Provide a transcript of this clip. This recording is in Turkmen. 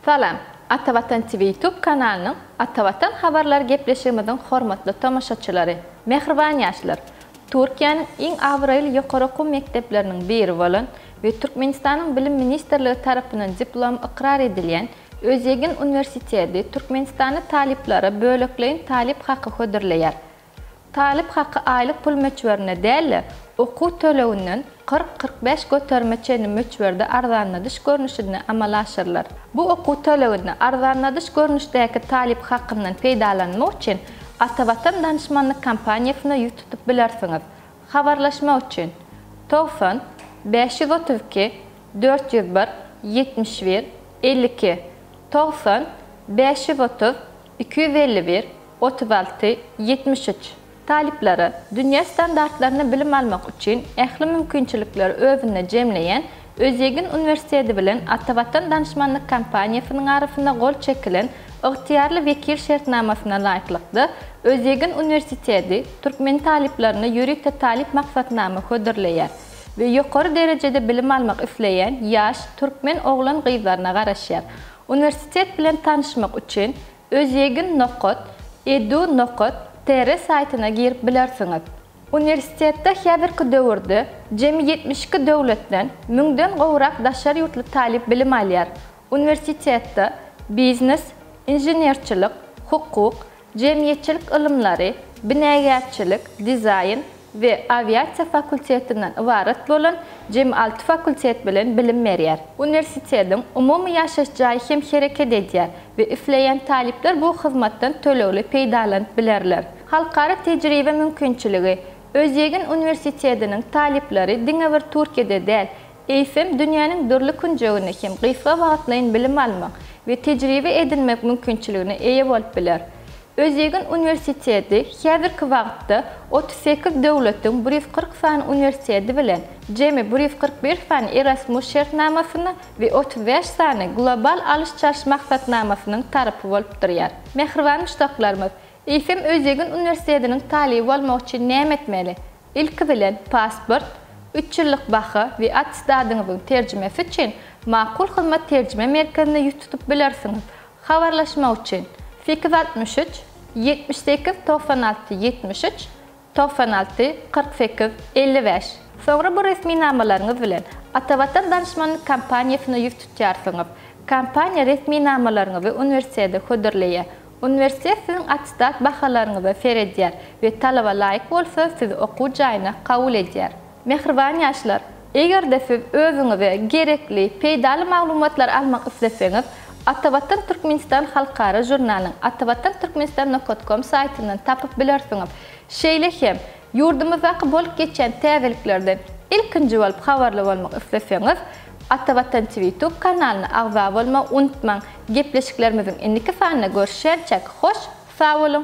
Salam! Atavatan TV YouTube kanalynyň Atavatan habarlary gepleşigimiziň hormatly tomaşaçylary! Mähriban ýaşlar! Türkiýäniň iň abraýly ýokary okuw mekdepleriniň biri bolan we Türkmenistanyň Bilim ministrligi tarapyndan diplomy ykrar edilýän Özýegin uniwersiteti Türkmenistanda talyplara bölekleýin talyp haky hödürleýär. Talyp haky aýlyk pul möçberine däl-de, okuw töleginden kyrk-kyrk bäş göterime çenli möçberde arzanladyş görnüşinde amala aşyrylar. Bu okuw töleginde arzanladyş görnüşdäki talyp hakyndan peýdalanmak üçin Atavatan danyşmanlyk kompaniýasyna ýüz tutup bilersiňiz. Habarlaşmak üçin, togsan bäş ýüz otuz iki dört ýüz bir ýetmiş bir elli iki, togsan bäş ýüz otuz. iki ýüz elli bir, otuz alty, ýetmiş üç, Talyplara dünýä standartlaryny bilim almak üçin ähli mümkinçilikleri özünde jemleýän Özýegin uniwersiteti bilen Atavatan Danyşmanlyk Kompaniýasynyň arasynda gol çekilen Ygtyýarly wekil şertnamasyna laýyklykda Özýegin uniwersiteti türkmen talyplaryna ýörite talyp maksatnama hödürleýär we ýokary derejede bilim almak isleýän ýaş türkmen oglan-gyzlaryna garaşýar. Uniwersitet bilen tanyşmak üçin Özýegin nokat edu nokat tr saýtyna girip bilersiňiz. Uniwersitetde häzirki döwürde jemi ýetmiş iki döwletden müňden gowrak daşary ýurtly talyp bilim alýar. Uniwersitetde biznes, inženerçilik, hukuk, Jemgyýetçilik ylymlary, binägärçilik, dizaýn we awiasiýa fakultetinden ybarat bolan jemi alty fakultet bilen bilim berýär. Uniwersitetiň umumy ýaşaýyş jaýy hem hereket edýär we isleýän talyplar bu hyzmatdan tölegli peýdalanyp bilerler. Halkara tejribe mümkinçiligi, Özýegin uniwersitetiniň talyplary diňe bir Türkiýede däl, eýsem, dünýäniň dürli künjeginde hem gysga wagtlaýyn bilim almak we tejribe edinmek mümkinçiligine eýe bolup biler. Özýegin uniwersiteti häzirki wagtda otuz sekiz döwletiň bir ýüz kyrk sany uniwersiteti bilen jemi bir ýüz kyrk bir sany Erasmus şertnamasyna we otuz bäş sany Global alyş-çalyş maksatnamasynyň tarapy bolup durýar. Mähriban muşdaklarymyz, eýsem, Özýegin uniwersitetiniň talyby bolmak üçin näme etmeli? Ilki bilen, pasport, üç ýyllyk baha we attestadyňyzyň terjimesi üçin Makul Hyzmat terjime merkezine ýüz tutup bilersiňiz. Habarlaşmak üçin, sekiz altmyş üç, ýetmiş sekiz, togsan alty, ýetmiş üç, togsan alty, kyrk sekiz, elli bäş. Soňra bu resminamalaryňyz bilen Atavatan Danyşmanlyk Kompaniýasyna ýüz tutýarsyňyz. Kompaniýa resminamalaryňyzy uniwersitete hödürleýär. Uniwersitet siziň attestat bahalaryňyza seredýär we talaba laýyk bolsa sizi okuw jaýyna kabul edýär. Mähriban ýaşlar! Eger-de siz özüňize gerekli, peýdaly maglumatlary almak isleseňiz, Atavatan Türkmenistan halkara žurnalynyň Atavatan Türkmenistan nokot kom saýtyndan tapyp bilersiňiz. Şeýle hem, Ýurdumyzdaky bolup geçýän täzeliklerden ilkinji bolup habarly bolmak isleseňiz, Ata Watan TV YouTube kanalyna agza bolmagy unutmaň! Gepleşiklerimiziň indiki sanynda görüşýänçäk, hoş sag boluň!